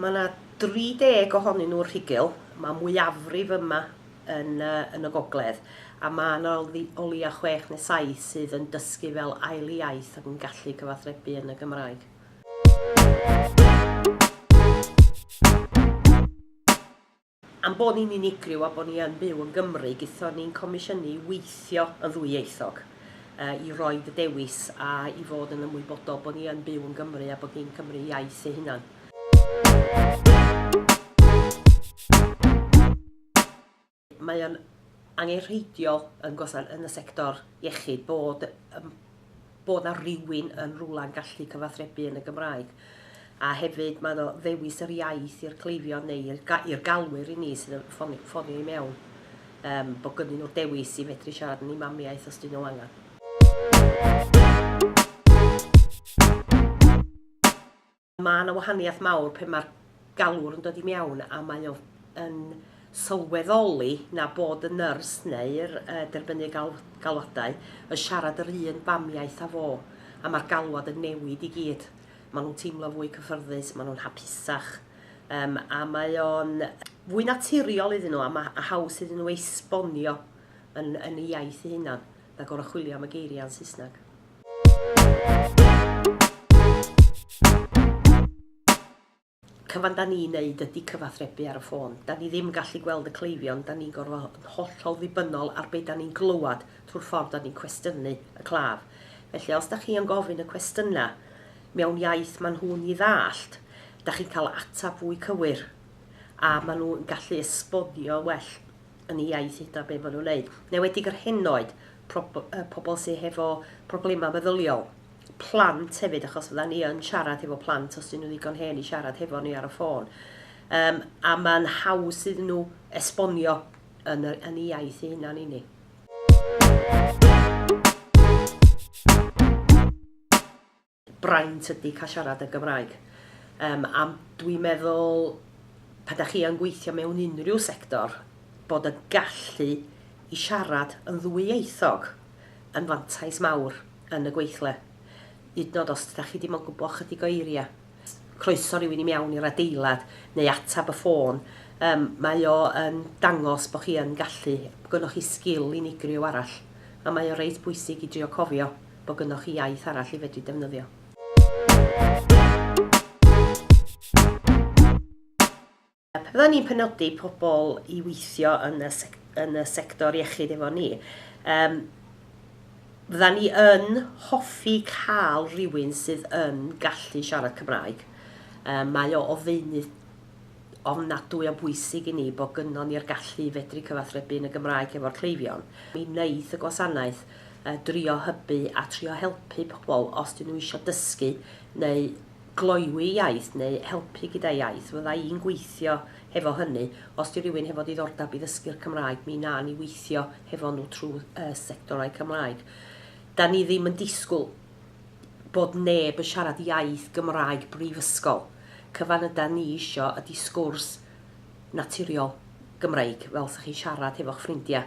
Mae 'na 30 ohonyn nhw'r rhugl, mae mwyafrif yma yn, uh, yn y gogledd, a mae yna o leia chwech neu saith sydd yn dysgu fel ail iaith ac yn gallu cyfathrebu yn y Gymraeg. Am bod ni'n unigryw a bod ni yn byw yn Gymru, gaethon ni'n comisiynu i weithio yn ddwyieithog, i roi y dewis a i fod yn ymwybodol bod ni yn byw yn Gymru a bod ni'n Cymry iaith ei hunan. Mae o'n angenrheidiol yn y sector iechyd bod bod 'na rywun yn rywle yn gallu cyfathrebu yn y Gymraeg. A hefyd mae 'na ddewis yr iaith i'r cleifion neu i'r, ga i'r galwyr i ni sydd yn ffoni, ffonio i mewn, um, bod gynnyn nhw'r dewis i fedru siarad yn ei mamiaeth os dyn nhw angen. Mae yna wahaniaeth mawr pe mae'r galwr yn dod i mewn a mae o yn sylweddoli na bod y nyrs neu'r uh, derbynu gal, galwadau yn siarad yr un famiaith â fo, a mae'r galwad yn newid i gyd. Maen nhw'n teimlo fwy cyffyrddus, maen nhw'n hapusach, um, a mae o'n fwy naturiol iddyn nhw a mae haws iddyn nhw esbonio yn, yn y iaith eu hunan. na goruchwylio am y geiriau yn Saesneg. Cyfan da ni'n neud ydy cyfathrebu ar y ffôn. Da ni ddim yn gallu gweld y cleifion, da ni'n gorfod fod yn hollol ddibynnol ar be da ni'n glywed trwy'r ffordd da ni'n cwestiynu y claf. Felly os da chi yn gofyn y cwestiynau mewn iaith maen nhw'n ei ddallt, da chi'n cael ateb fwy cywir a maen nhw'n gallu esbonio well yn ei iaith hydna be ma nhw'n neud. Newedig yr henoed, prob- yy, pobl sy hefo problemau meddyliol, plant hefyd, achos fydda ni yn siarad hefo plant os dyn nhw ddigon hen i siarad hefo ni ar y ffôn. Um, a mae'n haws iddyn nhw esbonio yn, y, yn ei iaith ei hunan i ni. braint ydy cael siarad yn Gymraeg. Yym a dwi'n meddwl pan da chi yn gweithio mewn unrhyw sector, bod y gallu i siarad yn ddwyieithog yn fantais mawr yn y gweithle. Hyd yn oed os da chi dim ond gwybod chydig o eiriau, croeso rhywun i mewn i'r adeilad neu atab y ffôn, um, mae o yn dangos bod chi yn gallu, bod gennych chi sgil unigryw arall, a mae o reit bwysig i drio cofio. bod gynnoch chi iaith arall i fedru defnyddio. Byddan ni'n penodi pobl i weithio yn y, sec yn y sector iechyd efo ni. Um, fydda ni yn hoffi cael rhywun sydd yn gallu siarad Cymraeg. Um, mae o o ddeunydd ofnadwy o bwysig i ni bod gynnon ni'r gallu i fedru cyfathrebu yn y Gymraeg hefo'r cleifion. Mi wneith y gwasanaeth yy drio hybu a trio helpu pobl os 'dyn nhw isio dysgu neu gloywi iaith neu helpu gyda iaith. Fydda i'n gweithio hefo hynny. Os 'di rywun hefo diddordeb i ddysgu'r Cymraeg, mi wna ni weithio hefo nhw trwy yy sectorau Cymraeg. 'Da ni ddim yn disgwyl bod neb yn siarad iaith Gymraeg brifysgol, cyfan ydan ni isio ydi sgwrs naturiol Gymreig fel 'sa chi'n siarad hefo'ch ffrindia.